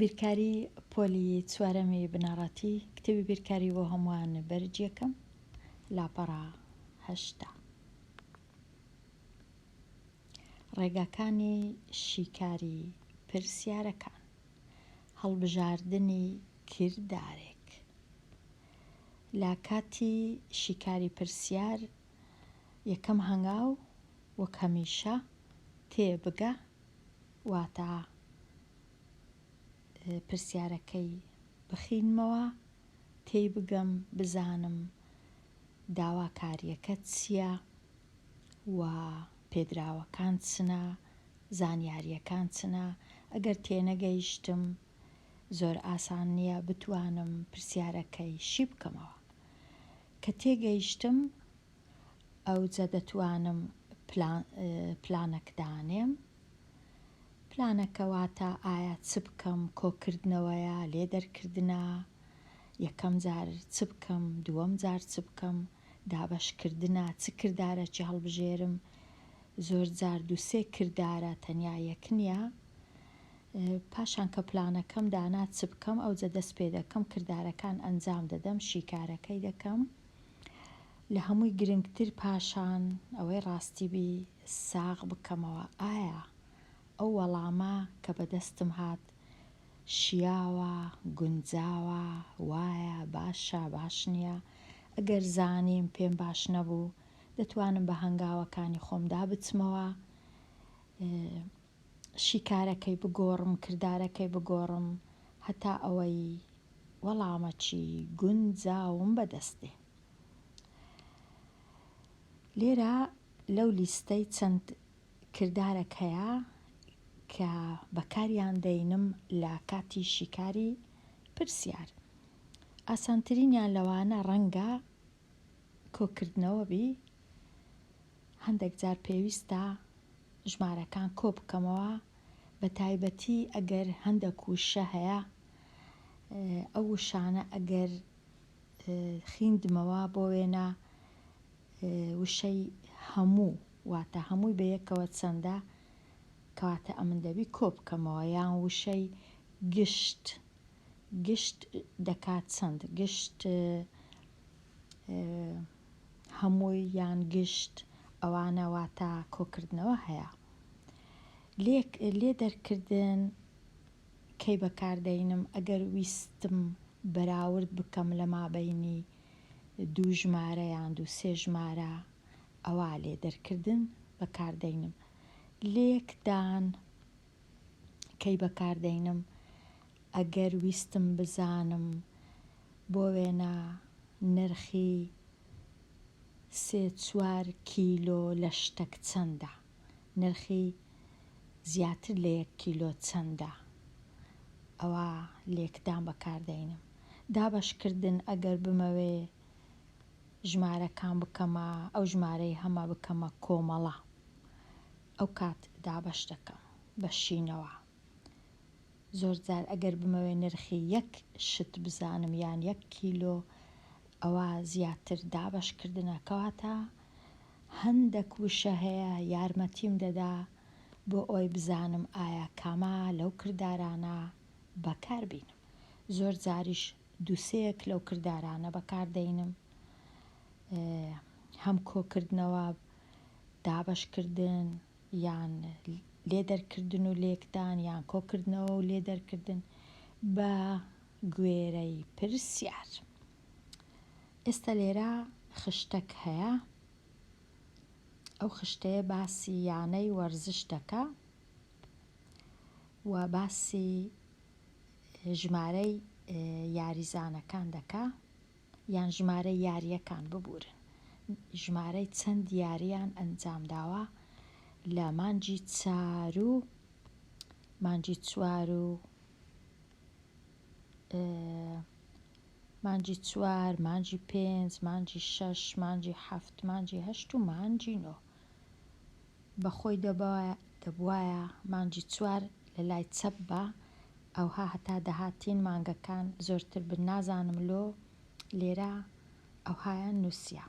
بیرکاری پۆلی چوارەمی بنەڕەتی کتێبی بیرکاری بۆ هەمووان بەرجیەکەم لاپەڕە هەشتا ڕێگاکانی شیکاری پرسیارەکان هەڵبژاردنی کردارێک لە کاتی شیکاری پرسیار یەکەم هەنگاو وەک هەمیشە تێ بگە واتە پرسیارەکەی بخینمەوە تێی بگەم بزانم داواکاریەکە چییە و پێدراوەکان چنە زانیاریەکان چنە ئەگەر تێنەگەیشتم زۆر ئاسان نیە بتوانم پرسیارەکەی شی بکەمەوە کە تێگەیشتم ئەوجە دەتوانم پلانەک دانێم پلانەکە واتە ئایا چ بکەم کۆکردنەوەیە لێ دەرکردنە یەکەم جار چ بکەم دووەم جار چ بکەم دابەشکردنە چ کردارەکی هەڵبژێرم زۆر جار دوو سێ کردارە تەنیا یەک نیە پاشان کە پلانەکەم دانا چ بکەم ئەوجە دەست پێ دەکەم کردارەکان ئەنجام دەدەم شیکارەکەی دەکەم لە هەمووی گرنگتر پاشان ئەوەی ڕاستی بی ساغ بکەمەوە ئایا ئەو وەڵامە کە بەدەستم هات شیاوە گونجاوە وایە باشە باش نییە ئەگەر زانیم پێم باش نەبوو دەتوانم بە هەنگاوەکانی خۆمدا بچمەوە شیکارەکەی بگۆڕم کردارەکەی بگۆڕم هەتا ئەوەی وەڵامەکی گونجاوم بەدەست دێ لێرە لەو لیستەی چەند کردارەک هەیە کە بەکاریان دەینم لە کاتی شیکاری پرسیار ئاسانترینیان لەوانە ڕەنگە کۆکردنەوە بی هەندەک جار پێویستە ژمارەکان کۆ بکەمەوە بە تایبەتی ئەگەر هەندەک وشە هەیە ئەو وشانە ئەگەر خیندمەوە بۆ وێنە وشەی هەموو واتە هەمووی بە یەکەوە چەندە کەواتە ئەمن دەبی کۆ بکەمەوە یان وشەی گشت گشت دەکات چەند؟ گشت هەمووی یان گشت ئەوانە واتە کۆکردنەوە هەیە لێک لێ دەرکردن کەی بەکاردەینم ئەگەر ویستم بەراورد بکەم لە مابینی دوو ژمارە یان دوو سێ ژمارە ئەوا لێ دەرکردن بەکاردەینم لێکدان کەی بەکاردەینم ئەگەر ویستم بزانم بۆ وێنە نرخی سێ چوار کیلۆ لەشتەک چەندە نرخی زیاتر لە یەک کیلۆ چەندە ئەوا لێکدان بەکاردەینم دابەشکردن ئەگەر بمەوێ ژمارەکان بکەمە ئەو ژمارەی هەمە بکەمە کۆمەڵە. ئەوکات دابەش دەکەم بە شینەوە زۆر جار ئەگەر بمەوێ نرخی یەک شت بزانم یان یەک کیلۆ ئەوا زیاتر دابەش کردنە کەواتە هەندەک وشە هەیە یارمەتیم دەدا بۆ ئەوەی بزانم ئایا کامە لەو کردارانە بەکار بینم زۆر جاریش دوو سێیەک لەو کردارانە بەکار دەینم هەم کۆکردنەوە دابەشکردن یان لێدەرکردن و لێکدان یان کۆکردنەوە و لێدەرکردن بە گوێرەی پرسیار ئێستا لێرە خشتەک هەیە ئەو خشتەیە باسی یانەی وەرزش دەکە و باسی ژمارەی یاریزانەکان دەکە یان ژمارەی یارییەکان ببورن ژمارەی چەند یارییان ئەنجامداوە لە مانگی چار و مانگی چوار و مانگی چوار مانگی پێنج مانگی شەش مانگی حەفت مانگی هەشت و مانگی نۆ بە خۆی دەبوایە دەبوایە مانگی چوار لە لای چەپ با ئەوها هەتا دەهاتین مانگەکان زۆرتر بن نازانم لۆ لێرە ئەوهایان نوسیە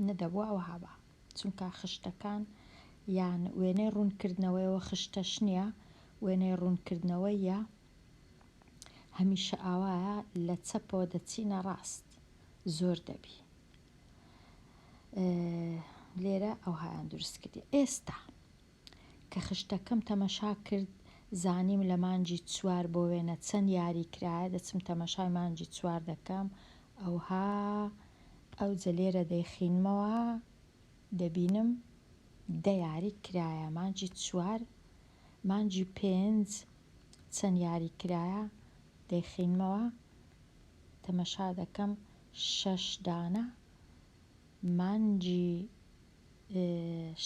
نەدەبوا ئەوها با چونکە خشتەکان یان وێنەی ڕوون کردنەوەیەوە خشتەش نیە وێنەی ڕوون کردنەوەیە هەمیشە ئاوایە لە چەپەوە دەچینە ڕاست زۆر دەبی لێرە ئەوهایان دروست کردی ئێستا کە خشتەکەم تەمەشا کرد زانیم لە مانجی چوار بۆ وێنە چەند یاری کرایە دەچم تەمەشای مانجی چوار دەکەم ئەوها ئەو جەلێرە دەیخینمەوە دەبینم دە یاری کرایە مانجی چوار مانجی پێنج چەند یاری کرایە دەیخینمەوە تەمەشا دەکەم شەش دانە مانگی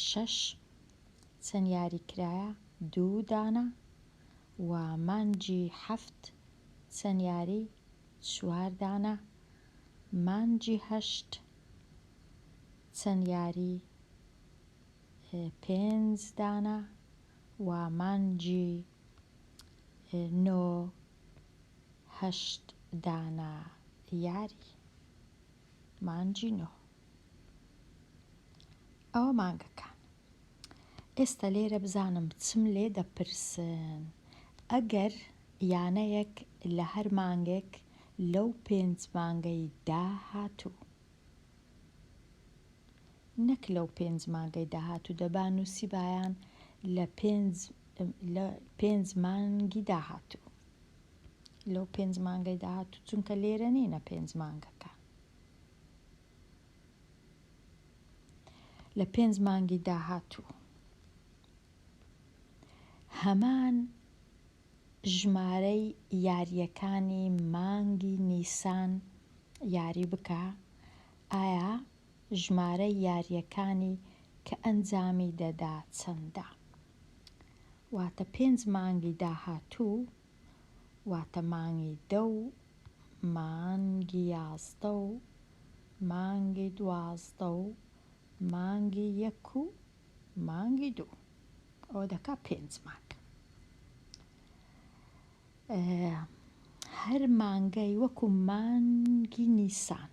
شەش چەند یاری کرایە دوو دانە و مانگی حەفت چەند یاری چوار دانە مانگی هەشت چەند یاری پێنج دانە و مانگی نۆ هەشت دانە یاری مانگی نۆ ئەوە مانگەکان ئێستا لێرە بزانم چم لێ دەپرسن ئەگەر یانەیەک لە هەر مانگێک لەو پێنج مانگەی داهاتوو نەک لەو پێنج مانگەی داهاتوو دەبا نووسی بایان لە پێنج مانگی داهاتوو لەو پێنج مانگەی داهاتوو چونکە لێرە نینە پێنج مانگەکە لە پێنج مانگی داهاتوو هەمان ژمارەی یاریەکانی مانگی نیسان یاری بکە ئایا ژمارەی یارییەکانی کە ئەنجامی دەدا چەندە؟ واتە پێنج مانگی داهاتوو واتە مانگی دە و مانگی یازدە و مانگی دوازدە و مانگی یەک و مانگی دوو ئەوە دەکا پێنج مانگ هەر مانگەی وەکو مانگی نیسان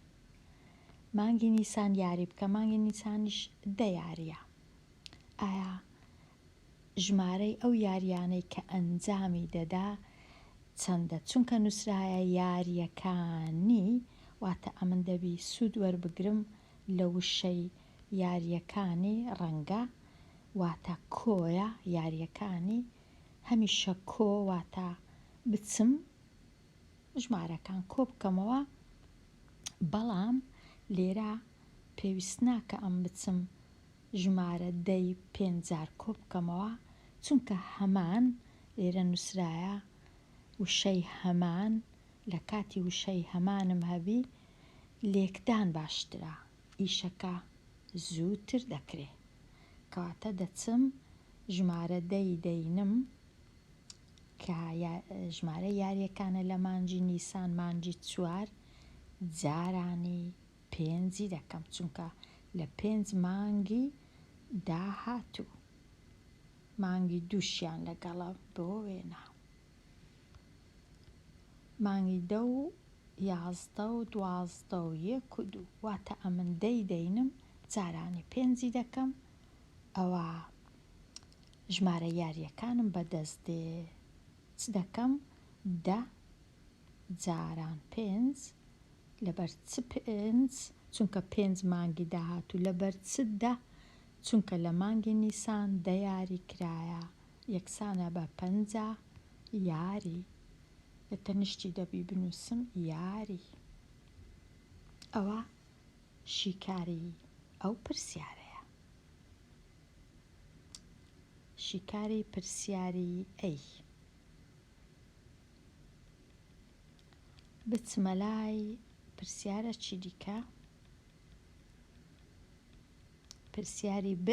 مانگی نیسان یاری بکە مانگی نیسانیش دە یاریە ئایا ژمارەی ئەو یاریانەی کە ئەنجامی دەدا چەندە چونکە نووسراە یاریەکانی واتە ئەمن دەبی سوود وەربگرم لە وشەی یاریەکانی ڕەنگە واتە کۆیە یاریەکانی هەمیشە کۆ واتە بچم ژمارەکان کۆبکەمەوە بەڵام لێرە پێویست ناکە ئەم بچم ژمارە دەی پێنج جار کۆبکەمەوە چونکە هەمان لێرە نووسرایە وشەی هەمان لە کاتی وشەی هەمانم هەبی لێکدان باشترە ئیشەکە زووتر دەکرێ کەواتە دەچم ژمارە دەی دەینم کە ژمارە یاریەکانە لە مانجی نیسان مانجی چوار جارانی پێنجی دەکەم چونکە لە پێنج مانگی داهاتوو مانگی دووشیان لەگەڵە بۆ وێنا مانگی دە و یازدە و دوازدە و یەک و دوو واتە ئەمن دەی دەینم جارانی پێنجی دەکەم ئەوە ژمارە یاریەکانم بەدەست دێ چ دەکەم دە جاران پێنج لەبەر چ پێنج چونکە پێنج مانگی داهاتوو لەبەر چ دە چونکە لە مانگی نیسان دە یاری کرایە یەکسانە بە پەنجا یاری لە تەنیشتی دەبی بنووسم یاری ئەوە شیکاری ئەو پرسیارەیە. شیکاری پرسیاری ئەی بچمە لای پرسیارە چی دیکە پرسیاری ب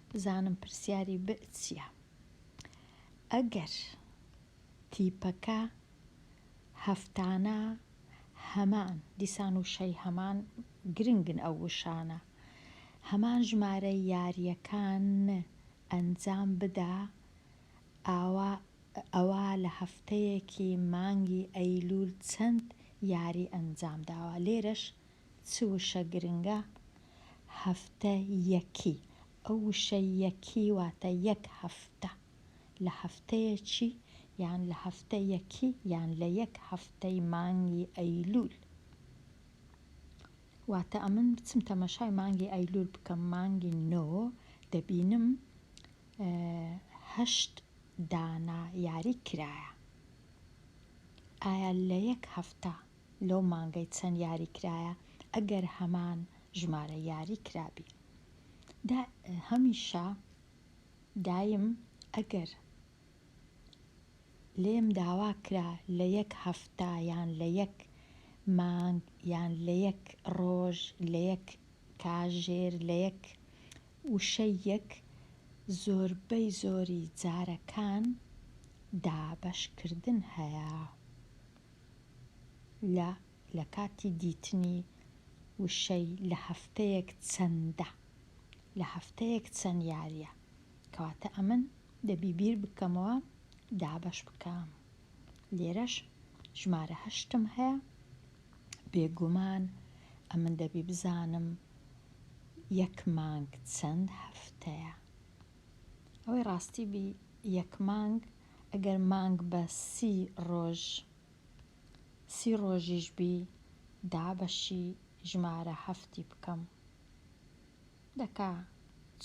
بزانم پرسیاری ب چییە ئەگەر تیپەکە هەفتانە هەمان دیسان وشەی هەمان گرنگن ئەو وشانە هەمان ژمارە یارییەکان ئەنجام بدا ئاوا ئەوا لە هەفتەیەکی مانگی ئەیلول چەند یاری ئەنجام داوە لێرەش چ وشە گرنگە هەفتە یەکی ئەو وشە یەکی واتە یەک هەفتە لە هەفتەیەکی یان لە هەفتە یەکی یان لە یەک هەفتەی مانگی ئەیلول. واتە ئەمن بچم تەمەشای مانگی ئەیلول بکەم مانگی نۆ دەبینم هەشت دانە یاری کرایە ئایا لە یەک هەفتە لەو مانگەی چەند یاری کرایە ئەگەر هەمان ژمارە یاری کرابی دا هەمیشە دایم ئەگەر لێم داوا کرا لە یەک هەفتە یان لە یەک مانگ یان لە یەک ڕۆژ لە یەک کاژێر لە یەک وشەیەک زۆربەی زۆری جارەکان دابەشکردن هەیە لە لە کاتی دیتنی وشەی لە هەفتەیەک چەندە لە هەفتەیەک چەند یاریە کەواتە ئەمن دەبی بیر بکەمەوە دابەش بکەم لێرەش ژمارە هەشتم هەیە بێگومان ئەمن دەبی بزانم یەک مانگ چەند هەفتەیە ئەوەی ڕاستی بی یەک مانگ ئەگەر مانگ بە سی ڕۆژ سی ڕۆژیش بی دابەشی ژمارە هەفتی بکەم دەکا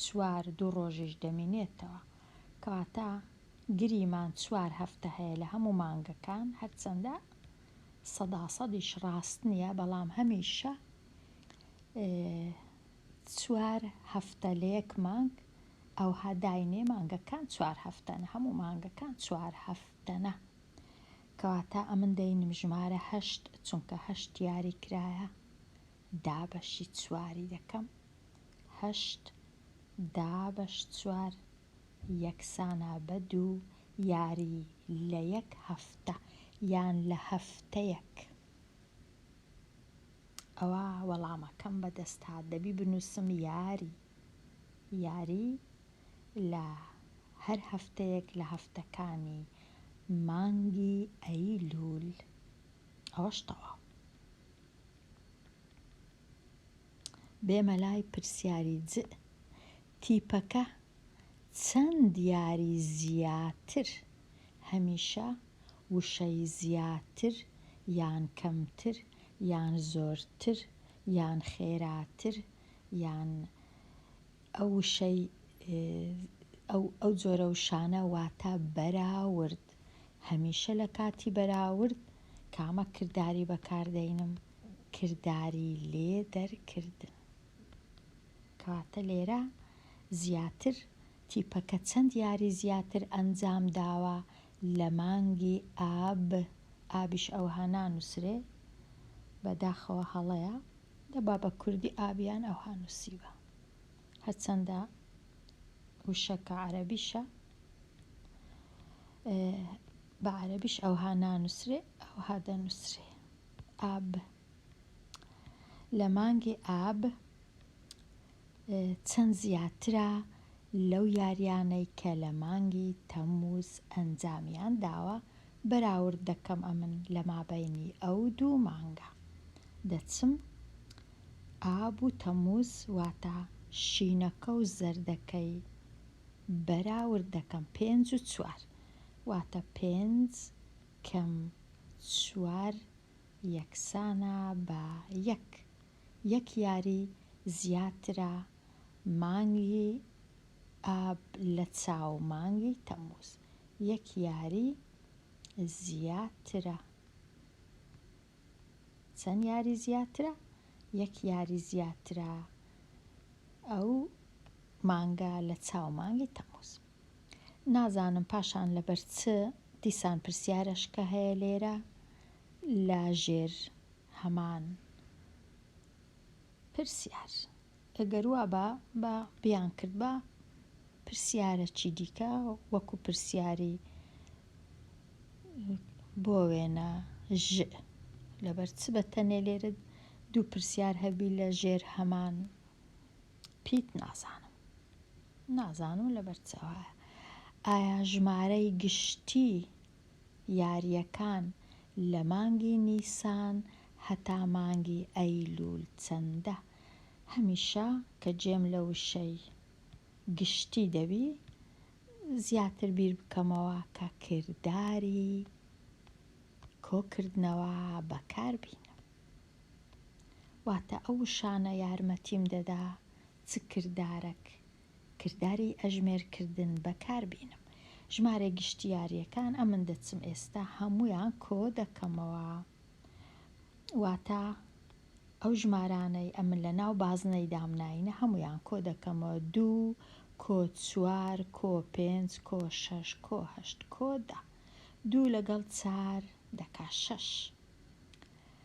چوار دوو ڕۆژیش دەمینێتەوە کەواتە گریمان چوار هەفتە هەیە لە هەموو مانگەکان هەرچەندە سەدا سەدیش ڕاست نییە بەڵام هەمیشە چوار هەفتە لە یەک مانگ ئەوها داینێ مانگەکان چوار هەفتەن هەموو مانگەکان چوار هەفتەنە کەواتە ئەمن دەینم ژمارە هەشت چونکە هەشت یاری کرایە دا بەشی چواری دەکەم. هەشت دا بەش چوار یەکسانە بە دوو یاری لە یەک هەفتە یان لە هەفتەیەک. ئەوا وەڵامەکەم بە دەست هات دەبی بنووسم یاری. یاری لە هەر هەفتەیەک لە هەفتەکانی مانگی ئەیلوول. ئەوەش تەواو. بێمە لای پرسیاری جئ تیپەکە چەند یاری زیاتر هەمیشە وشەی زیاتر یان کەمتر یان زۆرتر یان خێراتر یان ئەو وشەی، ئەو، ئەو جۆرە وشانە واتە بەراورد. هەمیشە لە کاتی بەراورد کامە کرداری بەکار دەینم؟ کرداری لێدەرکردن. کەواتە لێرە زیاتر تیپەکە چەند یاری زیاتر ئەنجام داوە لە مانگی ئاب، ئابیش ئەوها نانووسرێ، بەداخەوە هەڵەیە، دەبا بە کوردی ئاب یان ئەوها نووسیبا. هەرچەندە وشەکە عەرەبیشە بە عەرەبیش ئەوها نانووسرێ ئەوها دەنووسرێ ئاب لە مانگی ئاب چەند زیاترە لەو یاریانەی کە لە مانگی تەموز ئەنجامیان داوە بەراورد دەکەم ئەمن لە مابەینی ئەو دوو مانگە دەچم ئاب و تەمووز واتە شینەکە و زەردەکەی بەراورد دەکەم پێنج و چوار واتە پێنج کەم چوار یەکسانە بە یەک یەک یاری زیاترە مانگی ئاب لە چاو مانگی تەموز یەک یاری زیاترە چەن یاری زیاترە یەک یاری زیاترە ئەو مانگە لە چاو مانگی تەموز نازانم پاشان لەبەر چ دیسان پرسیارەشکە هەیە لێرە لە ژێر هەمان پرسیار ئەگەر وابا با بیان کردبا پرسیارەکی دیکە وەکو پرسیاری بۆ وێنە ژ لەبەر چ بە تەنێ لێرە دوو پرسیار هەبی لە ژێر هەمان پیت نازانم نازانم لەبەر چاوایە ئایا ژمارەی گشتی یاریەکان لە مانگی نیسان هەتا مانگی ئەیلول چەندە؟ هەمیشە کە جێم لە وشەی گشتی دەبی زیاتر بیر بکەمەوە کە کرداری کۆکردنەوە بەکار بینم واتە ئەو وشانە یارمەتیم دەدا چ کردارەک کرداری ئەژمێر کردن بەکار بینم. ژمارە گشتیاریەکان ئەمن دەچم ئێستا هەموویان کۆ دەکەمەوە واتا ئەو ژمارانەی ئەمن لە ناو بازنەی دام ناینە هەموویان کۆ دەکەمەوە دوو کۆ چوار کۆ پێنج کۆ شەش کۆ هەشت کۆ دە دوو لەگەڵ چار دەکا شەش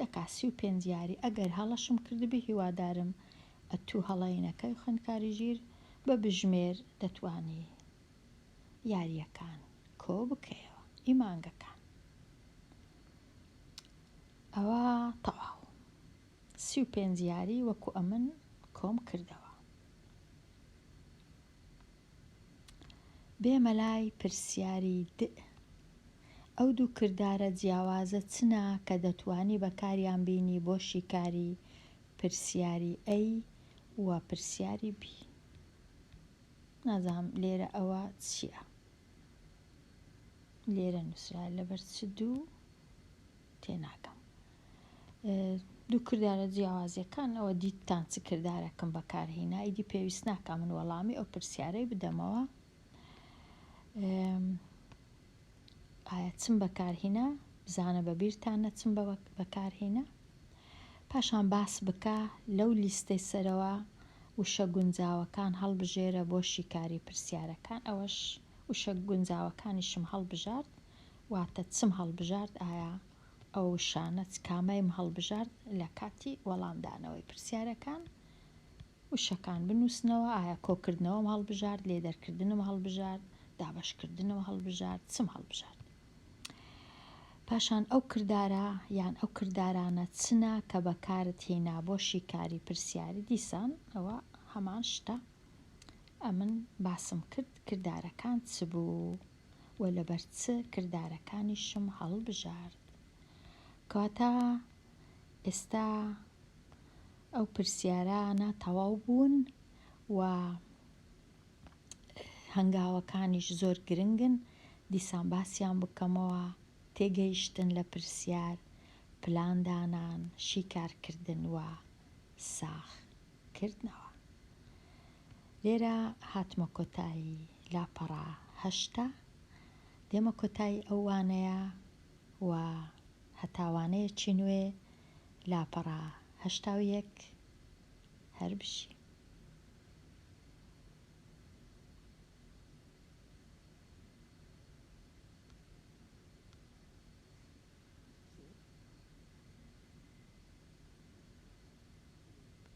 دەکات سی و پێنج یاری ئەگەر هەڵەشم کردبێ هیوادارم ئەتوو هەڵەی نەکەی خوێندکاری ژیر بە بژمێر دەتوانی یاریەکان کۆ بکەیەوە ئی مانگەکان ئەوە تەواو سی و پێنج یاری وەکو ئەمن کۆم کردەوە. بێ مەلای پرسیاری دئ. ئەو دوو کردارە جیاوازە چنە کە دەتوانی بەکاریان بینی بۆ شیکاری پرسیاری ئەی و پرسیاری بی. نازانم لێرە ئەوە چیە. لێرە نوسرا لەبەر چ دوو تێناگەم. دوو کردارە جیاوازیەکان ئەوە دیتتان چ کردارەکم بەکارهینا ئیدی پێویست ناکە من وەڵامی ئەو پرسیارەی بدەمەوە ئایا چم بەکارهینا بزانە بە بیرتان نەچم بە بەکارهینا پاشان باس بکە لەو لیستەی سەرەوە وشە گونجاوەکان هەڵبژێرە بۆ شیکاری پرسیارەکان ئەوەش وشە گونجاوەکانیشم هەڵبژارد واتە چم هەڵبژارد ئایا ئەو وشانە چ کامەیم هەڵبژارد لە کاتی وەڵامدانەوەی پرسیارەکان؟ وشەکان بنووسنەوە، ئایا کۆکردنەوەم هەڵبژارد، لێدەرکردنم هەڵبژارد، دابەشکردنم هەڵبژارد، چم هەڵبژارد؟ پاشان ئەو کردارە یان ئەو کردارانە چنە کە بەکارت هینا بۆ شیکاری پرسیاری دیسان ئەوە هەمان شتە ئەمن باسم کرد کردارەکان چ بوو؟ و لەبەر چ کردارەکانیشم هەڵبژارد؟ کەواتە ئێستا ئەو پرسیارانە تەواو بوون و هەنگاوەکانیش زۆر گرنگن دیسان باسیان بکەمەوە تێگەیشتن لە پرسیار پلاندانان شیکارکردن و ساخ کردنەوە لێرە هاتمە کۆتایی لاپەڕە هەشتە دێمە کۆتایی ئەو وانەیە و هەتا وانەیەکی نوێ لاپەڕە هەشتا و یەک هەر بژی